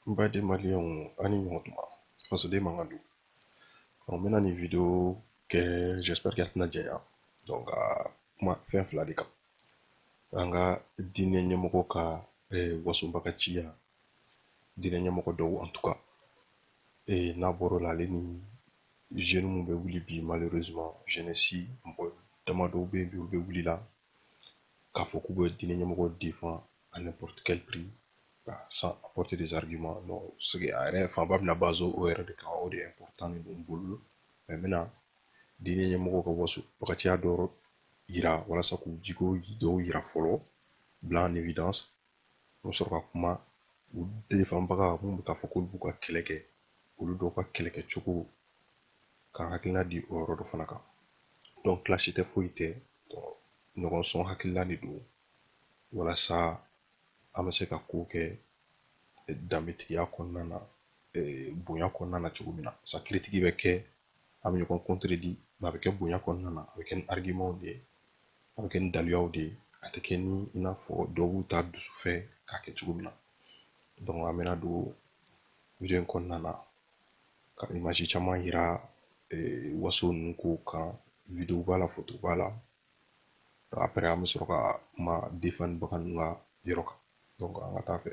N baden maliyɛnw aw ni ɲɔgɔn tuma fasoden man ka don ɔ n bɛna nin video kɛ j'espère que a tɛna janya donc ka kuma fɛn fila de kan an ka diinɛ ɲɛmɔgɔ ka wasobagaciya diinɛ ɲɛmɔgɔ dɔw en tout cas ee n'a bɔr'o la ale ni jeune mun bɛ wuli bi malheureusement jeunesse mɔgɔ dama dɔw bɛ yen bi olu bɛ wuli la k'a fɔ k'u bɛ diinɛ ɲɛmɔgɔ défend à n'importe quel prix ka sans apporter des arguments non sigi a yɛrɛ fanba bɛna base o yɛrɛ de kan o de important de don n bolo mais n bɛna diinɛ ɲɛmɔgɔ ka wasobagatiya dɔ yira walasa k'u jiko dɔw yira fɔlɔ bila en évidence n bɛ sɔrɔ ka kuma u defanbaga minnu bɛ k'a fɔ k'olu b'u ka kɛlɛ kɛ olu dɔw ka kɛlɛ kɛcogo ka hakilina di o yɔrɔ dɔ fana kan donc clash tɛ foyi tɛ ɲɔgɔn sɔn hakili la de don walasa an bɛ se ka ko kɛ danbetigiya kɔnɔna na bonya kɔnɔna na cogo min na sa critique bɛ kɛ an bɛ ɲɔgɔn contredit a bɛ kɛ bonya kɔnɔna na a bɛ kɛ ni argumentw de ye a bɛ kɛ ni daliluyaw de ye a tɛ kɛ ni i n'a fɔ dɔw b'u ta dusu fɛ k'a kɛ cogo min na donc an bɛna don video in kɔnɔna na ka image caman yira eh, waso ninnu kow kan video b'a la foto b'a la après an bɛ sɔrɔ ka kuma defanbaga ninnu ka yɔrɔ kan donc an ka taa fɛ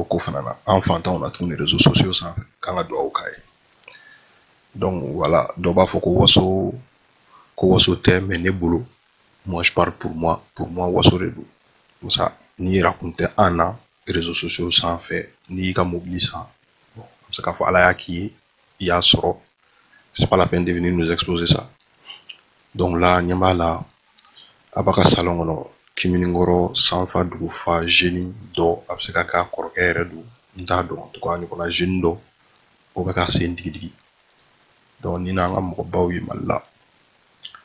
o ko fana na an fantanw na tuguni réseaux sociaux sanfɛ k'an ka dugawu k'a ye donc voilà dɔ b'a fɔ ko waso tɛ mais ne bolo moi je parle pour moi pour moi waso de don musa n'i yɛrɛ kun tɛ an na réseaux sociaux sanfɛ n'i y'i ka mobili san bon an bɛ se k'a fɔ ala y'a k'i ye i y'a sɔrɔ c'est pas la peine de venir nous exposer ça donc là ɲɛ b'a la a b'a ka salon kɔnɔ clim nin kɔrɔ sanfa dugu fa jeune dɔ a bɛ se ka k'a kɔrɔkɛ yɛrɛ don n t'a dɔn en tout cas ɲɔgɔnna jeune dɔ o bɛ ka sen digidigi donc ni n'an ka mɔgɔbaw ye Mali la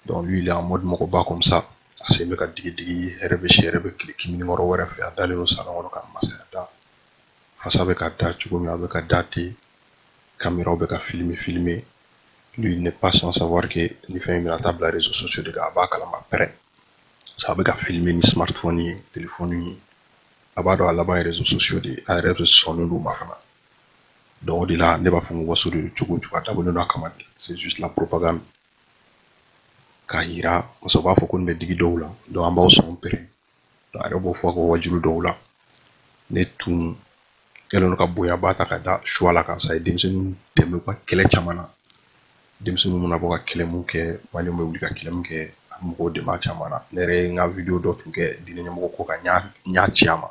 donc lui il est en mode mɔgɔba comme ça a sen bɛ ka digidigi hɛrɛ bɛ si hɛrɛ bɛ tile clim nin kɔrɔ wɛrɛ fɛ a dalen don salon kɔnɔ ka masaya da fasa bɛ ka da cogo min a bɛ ka da ten kameraw bɛ ka filime filime lui n'est pas sans savoir que nin fɛn in bɛna taa bila réseaux sociaux de kan a b'a kalama pɛrɛn parce que a bɛ ka filime ni smartphone ye telefɔni ye a b'a dɔn a laban ye réseaux sociaux de ye a yɛrɛ bɛ sɔnnen don o ma fana donc o de la ne b'a fɔ ko waso de don cogo o cogo a dabɔlen don a kama de c'est juste la propagande k'a yira muso b'a fɔ ko nin bɛ digi dɔw la donc an b'aw sɔn pɛrɛn a yɛrɛ b'o fɔ a ka wajulu dɔw la ne tun kɛlen don ka bonyaba ta ka da suwala kan sa a ye denmisɛnninw dɛmɛ u ka kɛlɛ caman na denmisɛnninw mana bɔ ka kɛlɛ mun kɛ maliyɛnw bɛ wuli ka kɛlɛ mun kɛ a bɛ mɔgɔw dɛmɛ a caman na ne yɛrɛ ye n ka wideyo dɔ tun kɛ diinɛ ɲɛmɔgɔ ko kan n y'a ci a ma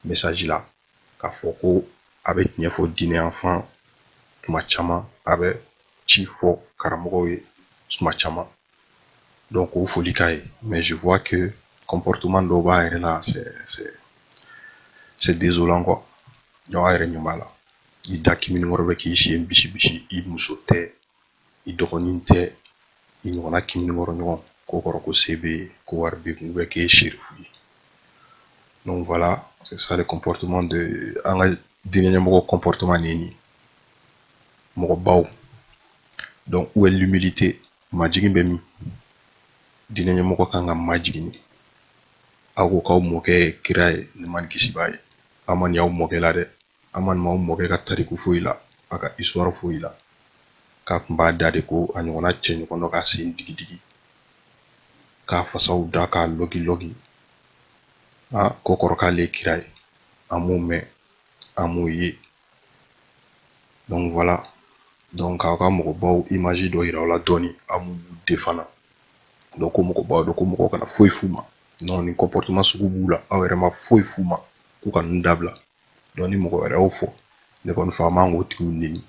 mesaji la k'a fɔ ko a bɛ tiɲɛ fɔ diinɛ yanfan tuma caman a bɛ ci fɔ karamɔgɔw ye tuma caman donc o foli k'a ye mais je vois que comportement dɔw b'a yɛrɛ la c'est c'est c'est désolant quoi donc a yɛrɛ ɲɛ b'a la i da kiminikɔrɔ bɛ k'i sen bisi bisi i muso tɛ i dɔgɔnin tɛ i ɲɔgɔnna kiminikɔrɔ ɲɔgɔn k'o kɔrɔ ko se b'e ye ko wari b'e kun k'e ye serifu ye donc voilà c'est ça le comportement de an ka diinɛ ɲɛmɔgɔ comportement de ye nin mɔgɔbaw donc où est l'humilité majigin bɛ min diinɛ ɲɛmɔgɔ kan ka majigin de aw ko k'aw mɔkɛ ye kira ye nɛɛma ni kisi b'a ye an ma nin y'aw mɔkɛ la dɛ an ma nin m'aw mɔkɛ ka tariku foyi la a ka histoire foyi la k'a tun b'a da de ko a ɲɔgɔnna cɛ ɲɔgɔn dɔ k'a sen digidigi k'a fasaw da k'a lɔgilɔgi k'o kɔrɔ k'ale ye kira ye an m'o mɛn an m'o ye donc voilà donc k'aw ka mɔgɔbaw image dɔ yira aw la dɔɔni aw m'u défendre donc ko mɔgɔbaw don ko mɔgɔw kana foyi f'u ma non nin comportement sugu b'u la aw yɛrɛ ma foyi f'u ma k'u ka ninnu dabila donc ni mɔgɔ wɛrɛ y'o fɔ ne kɔni fɛ an man k'o tigiw neni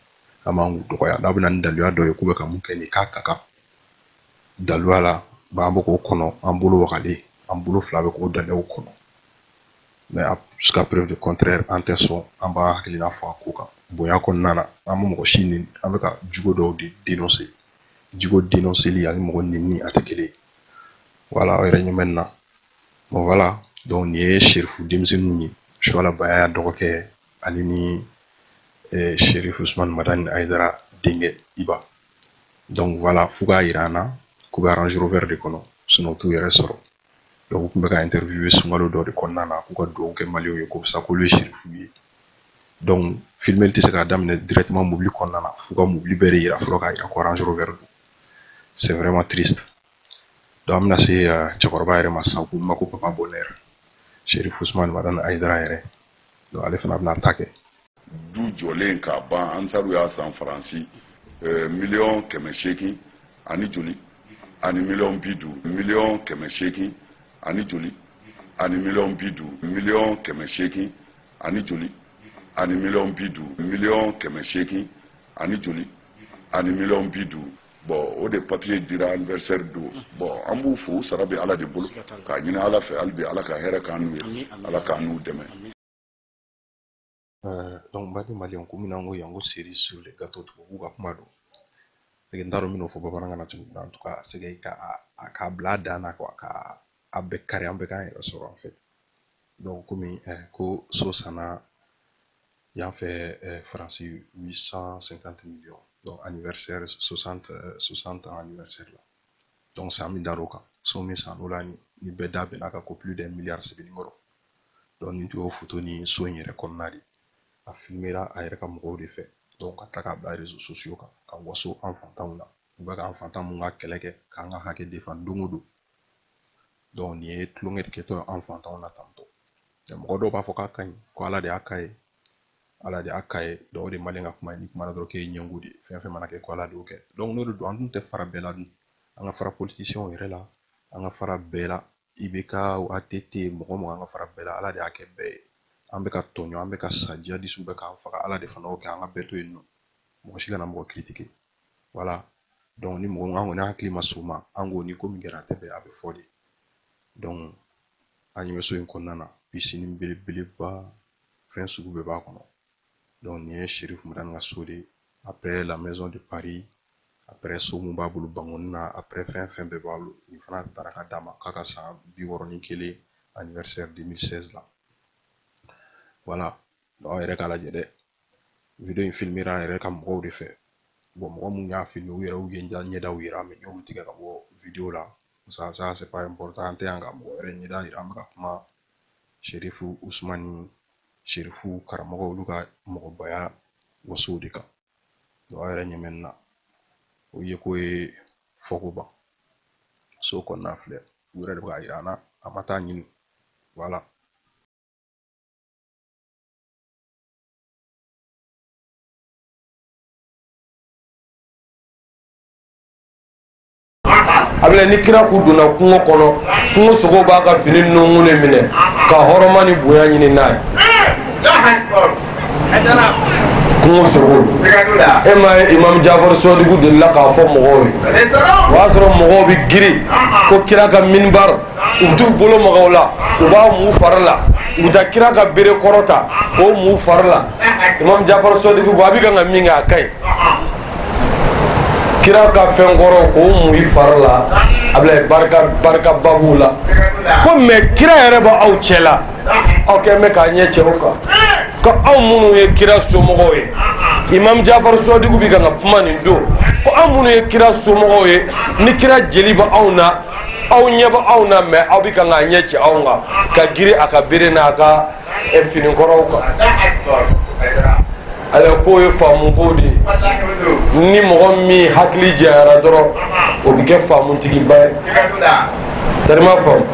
an man k'u dɔgɔya n'a bɛna ni daluya dɔ ye k'u bɛ ka mun kɛ nin k'a ka kan daluya la an bɛ k'o kɔnɔ an bolo wagalen an bolo fila bɛ k'o daluyaw kɔnɔ mais jusqu'à preuve du contraire an tɛ sɔn an b'an hakilina fɔ a ko kan bonya kɔnɔna na an tɛ mɔgɔ si neni an bɛ ka jogo dɔw de denonse jogo denonseli ani mɔgɔ neni a tɛ kelen ye voilà aw yɛrɛ ɲɛ bɛ nin na Bon voilà donc nin ye sirifu denmisɛnninw ye suala bayaya dɔgɔkɛ ale ni eh, sirifu usman madani ayidara denkɛ iba donc voilà f'u k'a jira an na k'u bɛ range rover de kɔnɔ sinon u t'u yɛrɛ sɔrɔ donc u tun bɛ ka interview sunkalo dɔ de kɔnɔna na k'u ka dugawu kɛ maliyɛnw ye ko sa k'olu ye sirifu ye donc filimeli tɛ se k'a daminɛ directement mobili kɔnɔna na f'u ka mobili bɛɛ de jira fɔlɔ k'a jira ko range rover don c'est vraiment triste donc an bɛna se cɛkɔrɔba yɛrɛ ma sisan ko ma ko papa bonheur serifu usman madani ayidara yɛrɛ donc ale fana bɛna ta kɛ du jɔlen k'a ban ansaru y'a san faransi miliyɔn kɛmɛ seegin ani joli ani miliyɔn bi duuru miliyɔn kɛmɛ seegin ani joli ani miliyɔn bi duuru miliyɔn kɛmɛ seegin ani joli ani miliyɔn bi duuru miliyɔn kɛmɛ seegin ani joli ani miliyɔn bi duuru bɔn o de papiye dira anniversaire don bɔn an b'u fo sara bɛ ala de bolo k'a ɲini ala fɛ hali bi ala ka hɛrɛ k'an n'u ye ala k'an n'u dɛmɛ euh, donc baden maliyɛnw komi n'an ko yan ko cerise sur le gâteau tubabu ka kuma don n t'a dɔn n bɛn'o fɔ bamanankan na cogo min na en tout cas c'est que ka a k'a bila a dan na quoi ka a bɛɛ kari an bɛɛ k'an yɛrɛ sɔrɔ en fait donc komi eh, ko so sanna yan fɛ euh, France 850 millions. Donc, anniversaire, 60, 60 euh, ans anniversaire la. Donc, c'est san min dar'o kan. So min sann'o la, ni bɛɛ da bɛnna ka, plus d'un milliard, c'est le numéro. Donc, nin tun y'o photo ni so in yɛrɛ kɔnɔna de. A filmera a yɛrɛ ka mɔgɔw de fɛ. Donc, ka tila k'a bila réseaux sociaux kan, ka waso an fantanw na. U bɛ ka an fantan mun ka kɛlɛ kɛ, k'an ka hakɛ defan don o don. nin ye tulonkɛ de kɛtɔ ye an fantanw na tantɔ mɔgɔ dɔw b'a fɔ k'a ka ɲi ko ala de y'a k'a ye ala de y'a k'a ye o de maliyɛn ka kuma ye n'i kumana dɔrɔn k'e ye ɲɛngo de ye fɛn fɛn mana kɛ ko ala de y'o kɛ n'o de don an dun tɛ fara bɛɛ la dun an ka fara politisiyɛnw yɛrɛ la an ka fara bɛɛ la IBK ATT mɔgɔ mɔgɔ an ka fara bɛɛ la ala de y'a kɛ bɛɛ ye an bɛ ka tɔɲɔ an bɛ ka sa jihadisiw bɛ k'an faga ala de fana y'o kɛ an ka bɛɛ to yen nɔ mɔgɔ si kana mɔgɔ kiritike wala dɔnku ni mɔgɔ an kɔni hakili ma s'o ma an ko ni ko min kɛra a tɛ bɛn a bɛ fɔ de dɔnku an ɲɛ bɛ so in kɔnɔna na pisini belebeleba fɛn sugu bɛɛ b'a kɔnɔ dɔnku nin ye serifu madani ka so de ye après la maison de paris après so mun b'a bolo bankoni na après fɛn fɛn bɛɛ b'a bolo nin fana taara ka d'a ma k'a ka san bi wɔɔrɔ ni kelen anniversaire 2016 la wala Donc aw yɛrɛ k'a lajɛ dɛ video in filmera a yɛrɛ ka mɔgɔw de fɛ bon mɔgɔ mun y'a filme u yɛrɛw y'u ɲɛdaw yira mais n y'olu tigɛ ka bɔ video la ça ça c'est pas important an tɛ yan ka mɔgɔ wɛrɛ ɲɛda yira an bɛ ka kuma serifu usumani serifu karamɔgɔ olu ka mɔgɔbaya wasow de kan donc aw yɛrɛ ɲɛ bɛ nin na o yeko ye fɔko ban so kɔnɔna filɛ u yɛrɛ de bɛ k'a yira an na an ma taa ɲini wala a filɛ ni kira kun donna kungo kɔnɔ kungo sogo b'a ka fini nunkun de minɛ ka hɔrɔma ni bonya ɲinin a ye kungo sogo e ma ye imam jafar sɔdiku delila k'a fɔ mɔgɔw ye o y'a sɔrɔ mɔgɔw bɛ girin ko kira ka minibar u t'u bolo maga o la u b'a mu fari la u bɛ taa kira ka bere kɔrɔ ta k'o mu fari la imam jafar sɔdiku ko a bɛ kan ka min kɛ a ka ɲi kira ka fɛn kɔrɔ k'o mu i fari la a bila barika barikaba b'u la ko mais kira yɛrɛ bɛ aw cɛ la aw kɔni bɛ k'a ɲɛ cɛ o kan ko anw minnu ye kira somɔgɔw ye imam jafar sɔdiku bɛ kan ka kuma nin don ko anw minnu ye kira somɔgɔw ye ni kira jeli bɛ anw na aw ɲɛ bɛ anw na mais aw bɛ kan k'a ɲɛ cɛ anw kan ka girin a ka bere n'a ka eh, fini kɔrɔw kan ale k'o ye faamu ko de ye ni mɔgɔ min hakili jɛyara dɔrɔn o bɛ kɛ faamutigiba ye tarima faamu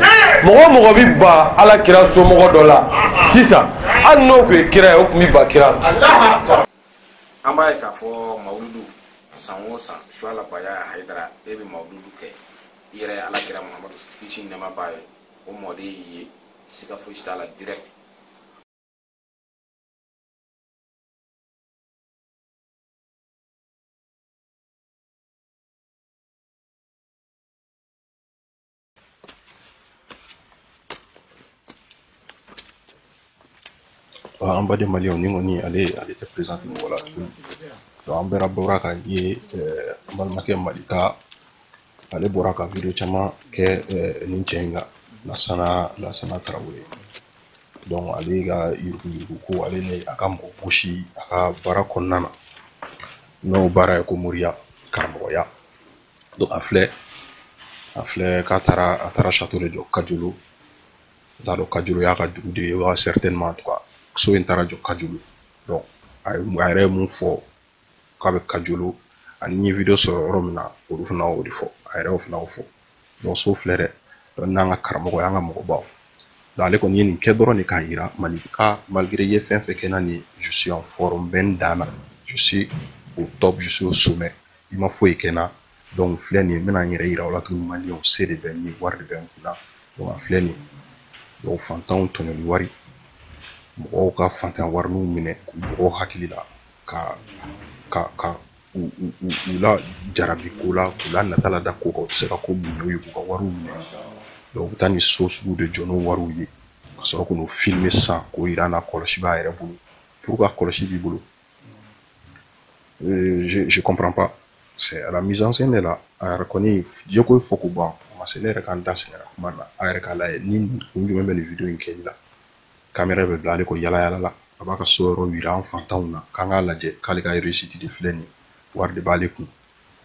mɔgɔ mɔgɔ bɛ ban ala kira somɔgɔ dɔ la sisan hali n'o tun ye kira ye o tun bɛ ban kira la an b'a ye k'a fɔ mawuludu san o san suwala baya hayidara e bɛ mawuludu kɛ i yɛrɛ ye ala kira muhamadu kisi ni nɛɛma b'a ye o mɔden y'i ye siga fosi t'a la direct an baden maliyɛnw nin kɔni ale ale tɛ présenter mɔgɔ la tuguni donc an bɛɛ bɔra k'a ye an balimakɛ malika ale bɔra ka video caman kɛ nin cɛ in kan lasana lasana tarawele donc ale ka yuruguyurugu ko ale ni a ka mɔgɔ bɔsi a ka baara kɔnɔna na n'o baara ye ko moriya karamɔgɔya donc a filɛ a filɛ k'a taara a taara château de jɔ kajulu n t'a dɔn kajulu y'a ka dugu de ye wa certainement en tout cas so in taara jɔ kajulu donc a yɛrɛ ye mun fɔ k'a bɛ kajulu ani n ye video sɔrɔ yɔrɔ min na olu fana y'o de fɔ a yɛrɛ y'o fana y'o fɔ donc so filɛ dɛ donc n'an ka karamɔgɔ y'an ka mɔgɔbaw donc ale kɔni ye nin kɛ dɔrɔn de k'a yira malika malgré i ye fɛn fɛn kɛ n na nin je suis en forme n bɛ n dan na je suis au top je suis au sommet i ma foyi kɛ n na donc filɛ nin ye n bɛna n yɛrɛ yira aw la tuguni maliyɛnw se de bɛ n ye wari de bɛ n kun na donc a filɛ nin ye donc fantanw tɔɲɔli wari mɔgɔw ka fantan wariniw minɛ k'u mɔgɔw hakili la ka ka ka u u u u lajarabi ko la k'u la nata lada ko kan u tɛ se ka ko min ɲɛ u ye k'u ka wariw minɛ donc u bɛ taa nin so sugu de jɔ n'o wariw ye ka sɔrɔ k'u n'u filmer sisan k'o yira an na kɔlɔsi b'a yɛrɛ bolo pourquoi kɔlɔsi b'i bolo Euh, je je comprends pas c'est à la mise en scène de la a yɛrɛ kɔni jeko ko fɔ ko ban o ma se ne yɛrɛ ka n da sɛgɛnna kuma na a yɛrɛ k'a lajɛ ni kun jumɛn bɛ nin video in kɛli la kamera bɛ bila ale kɔ yala yala la a b'a ka so yɔrɔ yira an fantanw na k'an k'a lajɛ k'ale ka réussite de filɛ nin ye wari de b'ale kun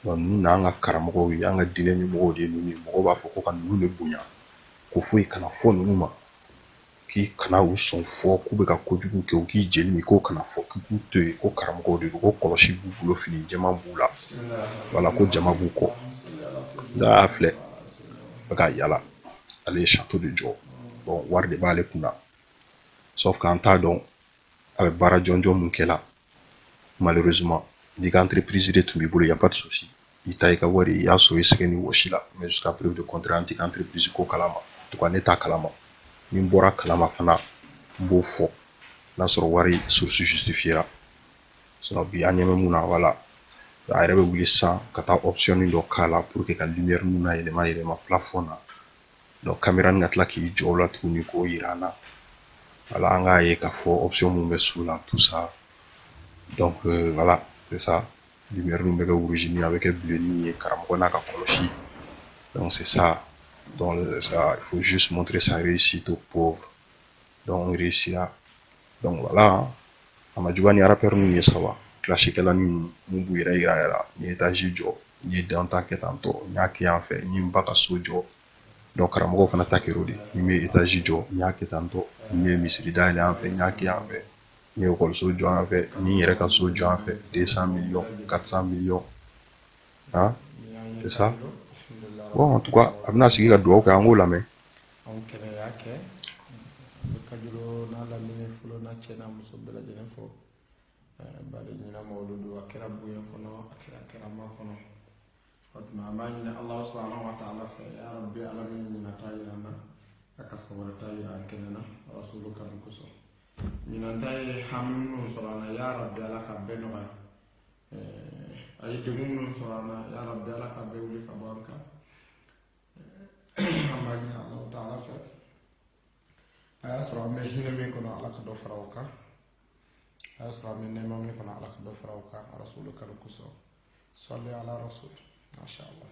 donc ninnu ye an ka karamɔgɔw ye an ka diinɛ ɲɛmɔgɔw de ye ninnu ye mɔgɔw b'a fɔ ko ka ninnu de bonya ko foyi kana fɔ ninnu ma k'i kana u sɔn fɔ k'u bɛ ka kojugu kɛ u k'i jeli min k'o kana fɔ k'i k'u to yen ko karamɔgɔw de don ko kɔlɔsi b'u bolo fini jɛman b'u la wala ko jama b'u kɔ nka a filɛ bɛ ka yala ale ye château de jɔ bon wari de b'ale kun na sauf k'an t'a dɔn a bɛ baara jɔnjɔn mun kɛla malheureusement n'i ka entreprise de tun b'i bolo y a pas de souci i ta i ka wari i y'a sɔrɔ i sɛgɛn ni wɔsi la mais jusqu'à preuve de contraire an t'i ka entreprise ko kalama en tout cas ne t'a kalama ni n bɔr'a kalama fana n b'o fɔ n'a sɔrɔ wari source justifiera sinon bi an ɲɛ bɛ mun na voilà a yɛrɛ bɛ wuli sisan ka taa option dɔ k'a la pour que ka lumière ninnu na yɛlɛma yɛlɛma plafond na donc kamera nin ka tila k'i jɔ o la tuguni k'o yira an na voilà an k'a ye k'a fɔ option mun bɛ so la tout ça donc euh, voilà c'est ça lumière nin bɛ kɛ rouge ni a bɛ kɛ bleu ni ye karamɔgɔ n'a ka kɔlɔsi donc c'est ça donc ça il faut juste montrer sa réussite aux pauvres donc on réussira donc voilà a ma juguya ni rappeur ninnu ye sa wa clashikɛla ni mun b'u yɛrɛ yira yɛrɛ n ye etazi jɔ n ye dan ta kɛ tan tɔ n y'a kɛ yan fɛ n ye n ba ka so jɔ donc karamɔgɔw fana ta kɛr'o de n ye etazi jɔ n y'a kɛ tan tɔ n ye misiri dayɛlɛ yan fɛ n y'a kɛ yan fɛ n ye ekɔliso jɔ yan fɛ n ye n yɛrɛ ka so jɔ yan fɛ 200 millions 400 millions ah c'est ça bon en tout cas a bɛna sigi ka dugawu kɛ an k'o lamɛn anw kɛnɛ y'a kɛ bɛ Kajolo n'a lamini fɔlɔ n'a cɛ n'a muso bɛɛ lajɛlen fo bari ɲinan mawuludu a kɛra bonya kɔnɔ a kɛra karama kɔnɔ o tuma an b'a ɲini ala subhanahu wa taala fɛ ya rabbi ala min ɲinan ta yira an na a ka san wɛrɛ ta yira an kɛnɛ na rasulu kanu kosɔn ɲinan ta ye hami minnu sɔrɔ an na ya rabbi ala ka bɛɛ nɔgɔya a ye degun minnu sɔrɔ an na ya rabbi ala ka bɛɛ wuli ka bɔ an kan an b'a ɲini alahu taala fɛ a y'a sɔrɔ an bɛ hinɛ min kɔnɔ ala ka dɔ fara o kan a y'a sɔrɔ an bɛ nɛɛma min kɔnɔ ala ka dɔ fara o kan rasulu kanu kosɔn salli ala rasul masha allah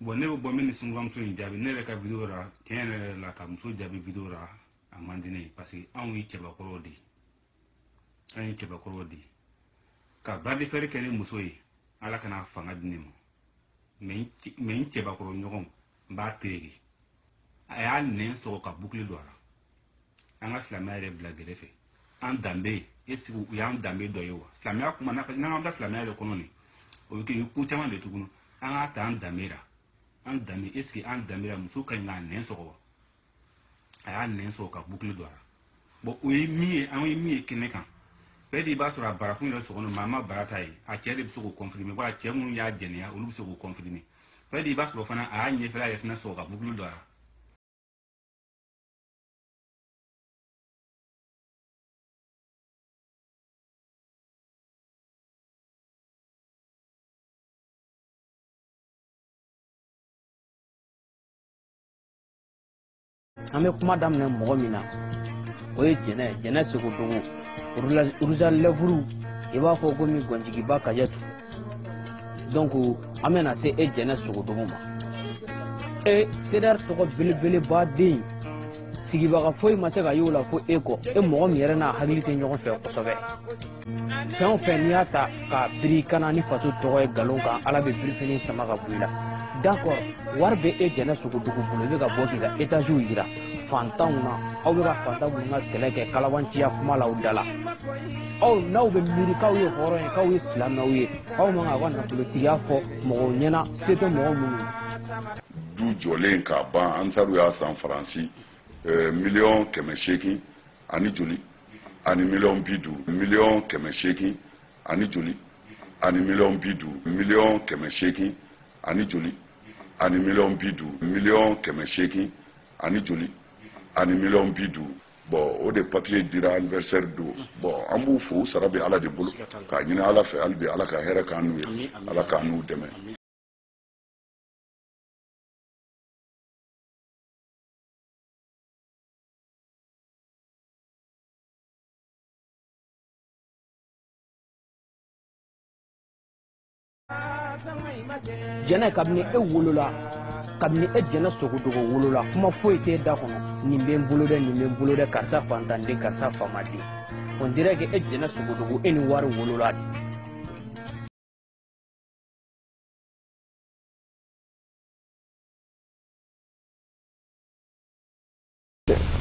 bon ne bɛ bɔ min ni sungurunbamuso in jaabi ne yɛrɛ ka video ra tiɲɛ yɛrɛ la ka muso jaabi video ra a man di ne ye parce que anw ye cɛbakɔrɔw de ye an ye cɛbakɔrɔw de ye ka bras de fer kɛ ni muso ye ala kana fanga di ne ma mais n cɛbakɔrɔ ɲɔgɔn n b'a tereke a y'a nɛn sɔgɔ ka bukili don a la an ka silamɛya yɛrɛ bila gɛrɛ fɛ an danbe est-ce que o y'an danbe dɔ ye wa silamɛya kuma n'an ka da silamɛya yɛrɛ kɔnɔ nin o bɛ kɛ ko caman de tuguni an k'a ta an danbe la an danbe est-ce que an danbe la muso ka ɲi k'a nɛn sɔgɔ wa a y'a nɛn sɔgɔ ka bukili don a la bon o ye min ye an ye min ye kɛnɛ kan peut-être b'a sɔrɔ a barakun yɛrɛ sɔgɔ maa m'a bara ta ye a cɛ de bɛ se k'o confirmer wala cɛ minnu y'a jɛnɛya olu bɛ se k'o confirmer peut-être b'a sɔrɔ fana a y'a ɲɛfɛla yɛrɛ fana sɔgɔ ka bukili don a la an bɛ kuma daminɛ mɔgɔ min na o ye jɛnɛ jɛnɛ sogodogo rouge à lèvres i b'a fɔ komi gɔnjigiba kajatu donc an bɛna se e jɛnɛ sogodogo ma e CDR tɔgɔ belebeleba den sigibaga foyi ma se ka y'o la fo e kɔ e mɔgɔ min yɛrɛ n'a hakili tɛ ɲɔgɔn fɛ kosɛbɛ fɛn o fɛn n'i y'a ta k'a biri ka na ni faso tɔgɔ ye nkalon kan ala bɛ birifini sama ka bɔ i la d'accord wari bɛ e jɛnɛ sogodogo bolo i bɛ ka bɔ k'i ka etaziw yira fantanw na aw bɛ ka fantan minnu ka kɛlɛ kɛ kalabanciya kuma la aw da la aw n'aw bɛ miiri k'aw ye hɔrɔn ye k'aw ye silamɛw ye aw man kan k'aw ka nafolotigiya fɔ mɔgɔw ɲɛna se tɛ mɔgɔ minnu ye du jɔlen k'a ban ansaru y'a san faransi eh, miliyɔn kɛmɛ seegin ani joli ani miliyɔn bi duuru miliyɔn kɛmɛ seegin ani joli ani miliyɔn bi duuru miliyɔn kɛmɛ seegin ani joli ani miliyɔn bi duuru miliyɔn kɛmɛ seegin ani joli ani miliyɔn bi duuru bon o de papier dira anniversaire don bon an b'u fo u sara bɛ ala de bolo k'a ɲini ala fɛ hali bi ala ka hɛrɛ k'an n'u ye ala k'an n'u dɛmɛ jɛnɛ kabini e wolola kabini e jɛnɛ sogodogo wolola kuma foyi t'e da kɔnɔ nin bɛ n bolo dɛ nin bɛ n bolo dɛ karisa fantanden karisa famaden on dirait que e jɛnɛ sogodogo e ni wari wolola de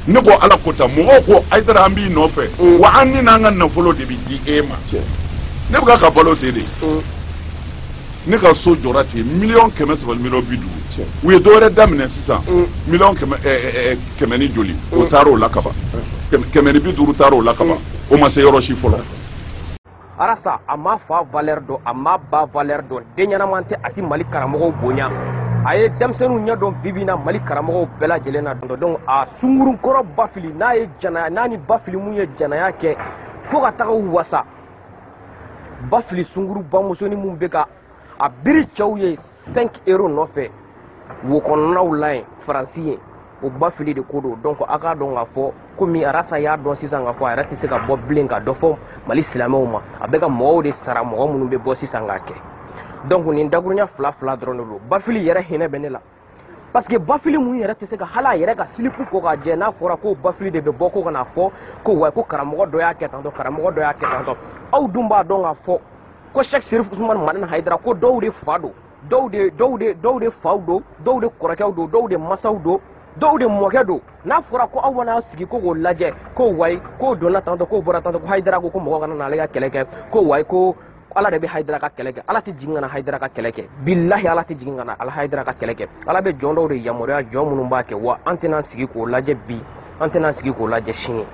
ne ko ala ko ta mɔgɔw ko hayidara an b'i nɔfɛ mm. wa an ni n'an ka nafolo de bɛ di e ma ne bɛ ka balo ten de mm. ne ka so jɔra ten miliyɔn kɛmɛ saba miliyɔn bi duuru u ye dɔwɛrɛ daminɛ sisan mm. miliyɔn kɛmɛ eh, eh, eh, kɛmɛ ni joli o taara o la kaban kɛmɛ ni bi duuru taara o la kaban o ma se yɔrɔ si fɔlɔ. arasa a ma fa valeur dɔn a ma ba valeur dɔn den ɲɛnaman tɛ a ti mali karamɔgɔw bonya a ye denmisɛnninw ɲɛ dɔn bibi na mali karamɔgɔw bɛɛ lajɛlen na dɔn donc a sungurunkɔrɔ bafili n'a ye janaya n'a ni bafili mun ye janaya kɛ fo ka taga u wasa bafili sunguru bamusoni mun bɛ ka a biri cɛw ye 5 euro nɔfɛ wo kɔnɔnaw la yen faransi ye o bafili de ko don donc a k'a dɔn k'a fɔ komi arasa y'a dɔn sisan k'a fɔ a yɛrɛ tɛ se ka bɔ bilen ka dɔ fɔ mali silamɛw ma a bɛ ka mɔgɔw de sara mɔgɔ minnu bɛ bɔ sisan k'a kɛ donc nin dakurunya fila fila dɔrɔn de don bafili yɛrɛ hinɛ bɛ ne la parce que bafili mun yɛrɛ tɛ se ka hali a yɛrɛ ka silipu ko ka jɛ n'a fɔra ko bafili de bɛ bɔ ko ka na fɔ ko wa ko karamɔgɔ dɔ y'a kɛ tantɔ karamɔgɔ dɔ y'a kɛ tantɔ aw dun b'a dɔn k'a fɔ ko sɛk serif usumani madani hayidara ko dɔw de fa don dɔw de dɔw de dɔw de faw don dɔw de kɔrɔkɛw don dɔw de masaw don dɔw de mɔkɛ don n'a fɔra ko aw mana aw sigi ko k'o lajɛ ko wayi k'o donna tantɔ k'o bɔra tantɔ ko hayidara ko ko mɔgɔ kana n'ale ka kɛlɛ kɛ ko wayi ko ko ala de bɛ hayidara ka kɛlɛ kɛ ala tɛ jigin ka na hayidara ka kɛlɛ kɛ bilahi ala tɛ jigin ka na ala hayidara ka kɛlɛ kɛ ala bɛ jɔn dɔw de yamaruya jɔn minnu b'a kɛ wa an tɛna sigi k'o lajɛ bi an tɛna sigi k'o lajɛ sini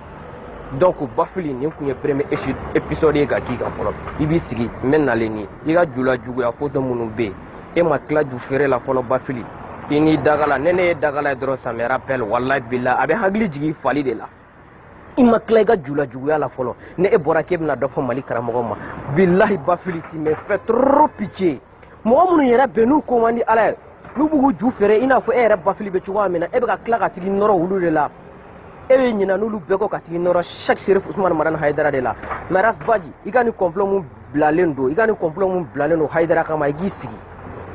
donc bafili nin tun ye premier épisode ye ka k'i kan fɔlɔ i b'i sigi n bɛ nalen ni i ka jula juguya foto minnu bɛ yen e ma tila ju feere la fɔlɔ bafili i n'i dagala ne ne ye dagala ye dɔrɔn ça me rappelle walayi bilahi a bɛ hakili jigin fali de la i ma tila i ka jula juguya la fɔlɔ ne e bɔra k'e bɛna dɔ fɔ mali karamɔgɔ ma bilahi bafili tu me fais trop pitié mɔgɔ minnu yɛrɛ bɛn n'u ko man di ala ye n'u bɛ k'u ju feere i n'a fɔ e yɛrɛ bafili bɛ cogoya min na e bɛ ka tila ka tag'i nɔrɔ olu de la e bɛ ɲina n'olu bɛɛ kɔ ka tag'i nɔrɔ sɛk serif usumani madani hayidara de la mais ras baji i ka nin complot mun bilalen don i ka nin complot mun bilalen don hayidara kama i k'i sigi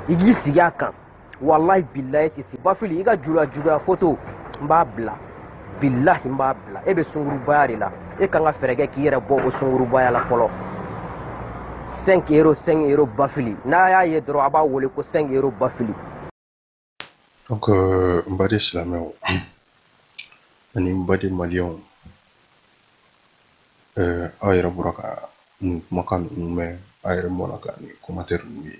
i k'i sigi a kan walayi bilayi tɛ se bafili i ka jula juguya foto n b'a bila bilahi n b'a bila e bɛ sungurubaya de la e kan ka fɛɛrɛ kɛ k'i yɛrɛ bɔ o sungurubaya la fɔlɔ 5 euro 5 euro bafili n'a y'a ye dɔrɔn a b'a wele ko 5 euro bafili donc euh, n baden silamɛw ani n baden maliyɛnw euh, aw yɛrɛ bɔra ka nin kumakan ninnu mɛn aw yɛrɛ bɔra ka nin commentaire ninnu ye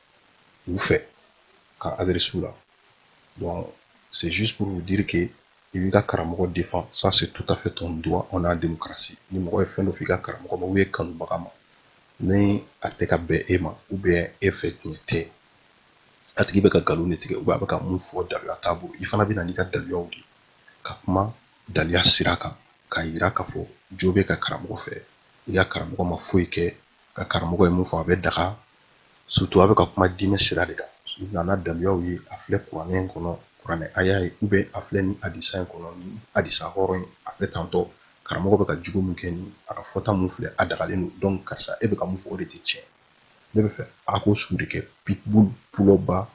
u fɛ ka adresser u la donc c'est juste pour vous dire que i b'i ka karamɔgɔ défend ça c'est tout à fait ton droit on est en démocratie ni mɔgɔ ye fɛn dɔ f'i ka karamɔgɔ ma ou e kanubaga ma ni a tɛ ka bɛn e ma ou bien e fɛ tiɲɛ tɛ a tigi bɛ ka nkalon de tigɛ ou bien a bɛ ka min fɔ daliya t'a bolo i fana bɛ na n'i ka daliyaw de ka kuma daliya sira kan k'a yira k'a fɔ jo b'e ka karamɔgɔ fɛ i ka karamɔgɔ ma foyi kɛ ka karamɔgɔ ye min fɔ a bɛ daga surtout a bɛ ka kuma diinɛ sira de kan na n'a daluyaw ye a filɛ kuranɛ in kɔnɔ kuranɛ aya ye ou bien a filɛ nin adisa in kɔnɔ nin adisa hɔrɔn ye a filɛ tantɔ karamɔgɔ bɛ ka jogo min kɛ ni a ka fɔta min filɛ a dagalen don donc karisa e bɛ ka min fɔ o de tɛ tiɲɛ ne b'a fɛ a k'o sugu de kɛ pitbull pulɔba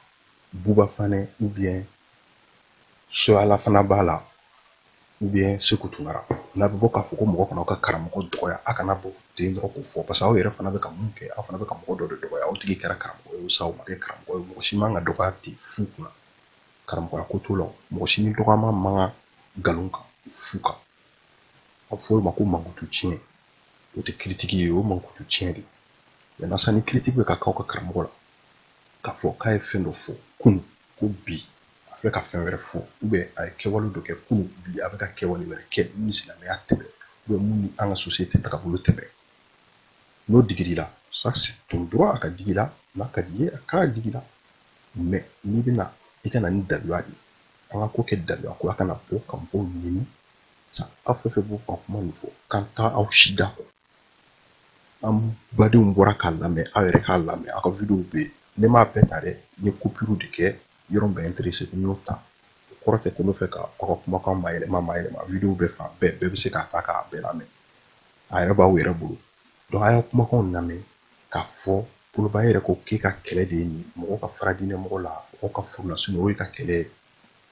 buba fanɛ ou bien soyala fana b'a la ou bien seku tunkara n'a bɛ bɔ k'a fɔ ko mɔgɔ kan'u ka karamɔgɔ dɔgɔya a kana bɔ ten dɔrɔn k'o fɔ parce que aw yɛrɛ fana bɛ ka mun kɛ aw fana bɛ ka mɔgɔ dɔ de dɔgɔya o tigi kɛra karamɔgɔ ye sa o ma kɛ karamɔgɔ ye mɔgɔ si man ka dɔgɔya ten fu kunna karamɔgɔya ko t'o la mɔgɔ si ni dɔgɔya man kan nkalon kan fu kan a bɛ fɔ o ma ko mankutu tiɲɛ o tɛ critique ye o mankutu tiɲɛ de mais nasa ni critique bɛ ka k'aw ka karamɔgɔ la k'a fɔ k'a ye fɛn dɔ fɔ kunu ko bi a fɛ ka fɛn wɛrɛ fɔ ou bien a ye kɛwale dɔ kɛ kunu bi a bɛ ka kɛwale wɛrɛ kɛ min ni silamɛya tɛ bɛn ou bien min ni an ka société tagabolo tɛ bɛn n'o digir'i la ça c'est ton droit a ka digi i la n'a ka di i ye a ka digi i la mais n'i bɛ na i ka na ni daluya de an ka ko kɛ daluya ko a kana bɔ ka mɔgɔw nɛni sa aw fɛ fɛ b'u ka kuma min fɔ k'an taa aw si da kɔ an badenw bɔra k'a lamɛn aw yɛrɛ k'a lamɛn aw ka videow bɛ yen ne m'a bɛɛ ta dɛ n ye coupure de kɛ yɔrɔ min bɛ n intéresser n y'o ta o kɔrɔ tɛ ko n b'a fɛ ka aw ka kumakan mayɛlɛma mayɛlɛma videow bɛ fan bɛɛ bɛɛ bɛ se k'a ta k'a bɛɛ lamɛn a yɛrɛ b'aw yɛrɛ bolo donc a y'a kumakanw lamɛn k'a fɔ pulɔba yɛrɛ ko k'e ka kɛlɛ de ye nin mɔgɔ ka fara diinɛ mɔgɔ la mɔgɔ ka far'u la sinon o y'e ka kɛlɛ ye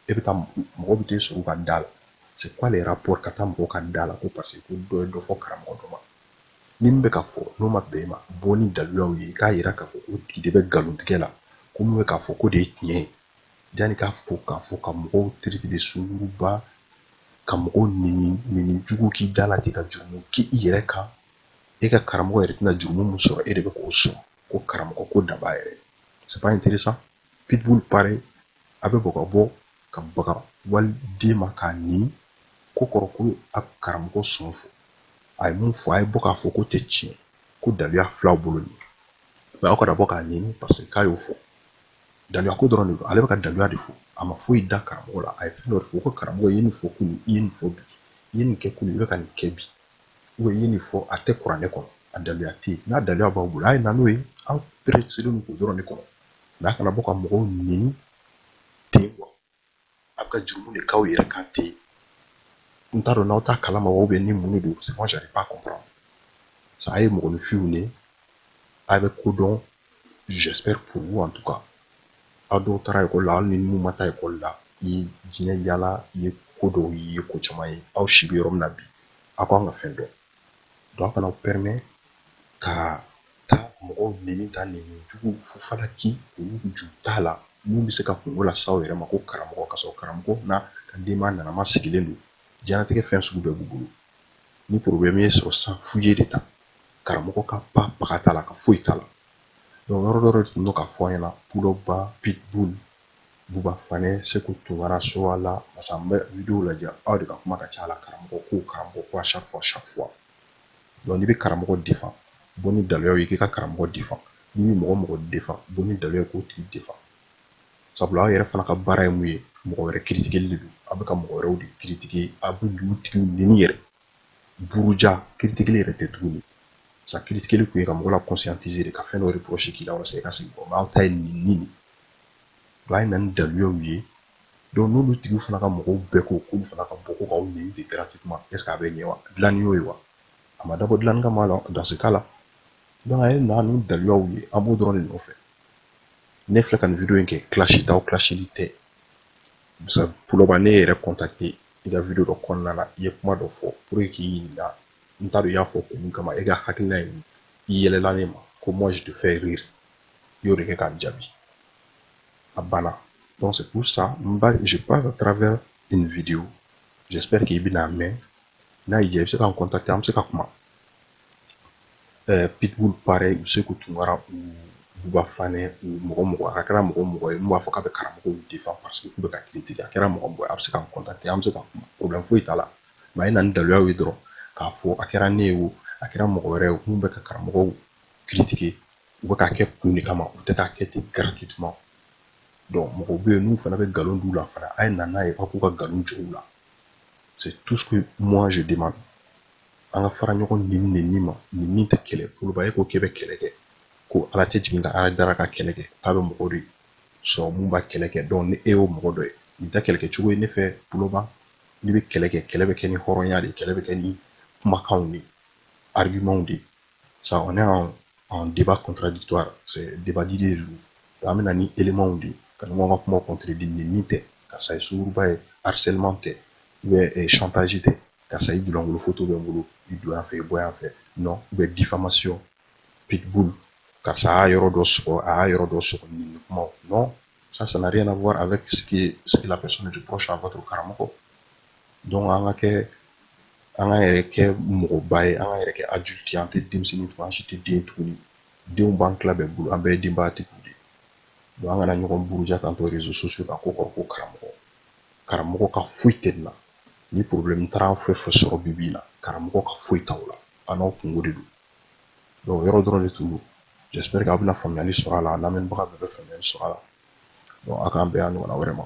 e bɛ taa mɔgɔ bɛ t'e sɔrɔ ka da la c'est quoi le rapport ka taa mɔgɔ ka da la ko parce que ko dɔ ye dɔ fɔ karamɔgɔ dɔ ma ni min bɛ ka fɔ n'o ma bɛn e ma bɔ ni daliluyaw ye i k'a jira k'a fɔ o tigi de bɛ nkalontigɛ la ko min bɛ k'a fɔ k'o de ye tiɲɛ ye janni k'a fɔ k'a fɔ ka mɔgɔw traiter de sunguruba ka mɔgɔw nɛni nɛni jugu k'i da la ten ka jurumu k'i yɛrɛ kan e ka karamɔgɔ yɛrɛ tɛna jurumu min sɔrɔ e de bɛ k'o sɔrɔ ko karamɔgɔ ko da b'a yɛrɛ c'est pas intéressant pitbull pareil a bɛ bɔ ka bɔ ka baga waliden ma k'a neni k'o kɔrɔ ko a karamɔgɔ sɔn fɔ a ye mun fɔ a ye bɔ k'a fɔ k'o tɛ tiɲɛ ko daliluya fil'aw bolo nin mais aw kana bɔ k'a neni parce que k'a y'o fɔ daliluya ko dɔrɔn de don ale bɛ ka daliluya de fɔ a ma foyi da karamɔgɔ la a ye fɛn dɔ de fɔ ko karamɔgɔ ye nin fɔ kunu i ye nin fɔ bi i ye nin kɛ kunu i bɛ ka nin kɛ bi u ye nin fɔ a tɛ kuranɛ kɔnɔ a daliluya tɛ yen n'a daliluya b'aw bolo a ye na n'o ye an pɛrɛselen don k'o dɔrɔn de kɔnɔ mais a kana bɔ ka mɔgɔw neni ten wa a bɛ ka jurumu de k'aw yɛrɛ kan ten n t'a dɔn n'aw t'a kalama wa bɛ ni mun de don c'est moi j'arrive pas à comprendre ça a ye mɔgɔninfinw de a bɛ ko dɔn j'espère pour vous en tout cas aw dɔw taara ekɔli la hali ni mun ma taa ekɔli la i ye diɲɛ yaala i ye ko dɔw ye ko caman ye aw si bɛ yɔrɔ min na bi aw kan ka fɛn dɔn donc a kana pɛrɛmɛ ka taa mɔgɔw neni tan neni jugu fu falaki olu ju t'a la minnu bɛ se ka kunko las'aw yɛrɛ ma ko karamɔgɔ ka sɔrɔ karamɔgɔ n'a ka denbaya nanama sigilen don diɲɛnatigɛ fɛn sugu bɛɛ b'u bolo ni porobilɛmu y'i sɔrɔ san fu y'e de ta karamɔgɔ ka ba baga t'a la ka foyi t'a la donc yɔrɔ dɔ de tun don k'a fɔ an ɲɛna pulɔba pitbull Buba Fanɛ Seku Tunkara Sowala parce que an bɛ video lajɛ aw de ka kuma ka ca a la karamɔgɔ ko karamɔgɔ ko à chaque fois chaque fois donc n'i bɛ karamɔgɔ defan bɔ ni daliluyaw ye k'i ka karamɔgɔ defan n'i bɛ mɔgɔ o mɔgɔ defan bɔ ni daliluya ye k'o tigi defan sabula aw yɛrɛ fana ka baara ye mun ye mɔgɔ wɛrɛ kiritikeli de don aw bɛ ka mɔgɔ wɛrɛw de kiritike aw b'olu tigiw neni yɛrɛ buruja kiritikeli yɛrɛ tɛ tuguni sa kiritikeli tun ye ka mɔgɔ la conscientiser de ka fɛn dɔ reproche k'i la walasa i ka segin kɔ aw ta ye nenini don a ye na ni daliluyaw ye donc n'olu tigiw fana ka mɔgɔw bɛɛ ko k'olu fana ka bɔ ko k'aw neni de gratuitement est ce que a bɛ ɲɛ wa dilanni y'o ye wa a ma dabɔ dilanni kama la dans ce cas la donc a ye na ni daliluyaw ye an b'o dɔrɔn de nɔfɛ ne filɛ ka nin video in kɛ kilasi t'aw kilasili tɛ sa puloba ne yɛrɛ contacter i ka video dɔ kɔnɔna na i ye kuma dɔ fɔ pour que n k'i ɲininka n t'a dɔn i y'a fɔ kun min kama e ka hakilina ye i yɛlɛla ne ma ko moi je te fais rire i y'o de kɛ ka n jaabi a banna donc c'est pour ça moi je passe à travers une vidéo j'espère k'i bɛn'a mɛn n'a y'i diya i bɛ se ka n contacter an bɛ se ka kuma eh, pitbull pareil ou seku tunkara ou buba fanɛ ou mɔgɔ o mɔgɔ a kɛra mɔgɔ o mɔgɔ ye mun b'a fɔ k'a bɛ karamɔgɔw defan parce que k'u bɛ ka kiritike a kɛra mɔgɔ o mɔgɔ ye a bɛ se ka n contacter an bɛ se ka kuma problème foyi t'a la mais a ye na ni daliluyaw ye dɔrɔn k'a fɔ a kɛra ne ye o a kɛra mɔgɔ wɛrɛ ye mun bɛ ka karamɔgɔw kiritike u bɛ k'a kɛ kun de kama u tɛ k'a kɛ ten gratuitement donc mɔgɔw bɛ yen n'u fana bɛ nkalon d'u la fana a ye na n'a ye aw k'u ka nkalon jɔ u la c'est tout ce que moi je demande an ka fara ɲɔgɔn nenini ma neni tɛ kɛlɛ poloba e ko k'e bɛ kɛlɛ kɛ ko ala tɛ jigin ka haidara ka kɛlɛ kɛ k'a bɛ mɔgɔ de sɔrɔ min b'a kɛlɛ kɛ donc ni e y'o mɔgɔ dɔ ye nin tɛ kɛlɛkɛ cogo ye ne fɛ poloba n'i bɛ kɛlɛ kɛ kɛlɛ bɛ kɛ ni hɔrɔnya de kɛlɛ bɛ kɛ ni kumakanw de argumentw de ça on est en, en débat contradictoire c'est débat d'idées de donc an bɛna ni éléments de ka ɲɔgɔn ka kumaw contredire neni tɛ karisa ye sunguruba ye harcèlement tɛ ou bien eh, chantage tɛ karisa i julankolon foto bɛ n bolo i don yan fɛ i bɔ yan fɛ non ou bien diffamation pitbull karisa a y'a yɔrɔ dɔ sɔgɔ a y'a yɔrɔ dɔ sɔgɔ nin kumaw non ça ça n'a rien à voir avec ce que la personne reproche à votre karamɔgɔ donc an ka kɛ an ka yɛrɛ kɛ mɔgɔba ye an ka yɛrɛ kɛ adulte ye an tɛ denmisɛnnin tugun an si tɛ den tuguni denw b'an tila bɛɛ bolo an bɛɛ ye denbayatigiw de ye donc an kana ɲɔgɔn buruja k'an to réseaux sociaux kan k'o kɔrɔ ko karamɔgɔ karamɔgɔ ka foyi tɛ nin na ni problème taara fɛn fɛn sɔrɔ bi bi na karamɔgɔ ka foyi t'aw la an n'aw kungo de don donc yɔrɔ dɔrɔn de tun don j'espère que aw bɛna faamuyali sɔrɔ a la a lamɛnbaga bɛɛ bɛ faamuyali sɔrɔ a la donc a k'an bɛn a ɲɔgɔnna wɛrɛ ma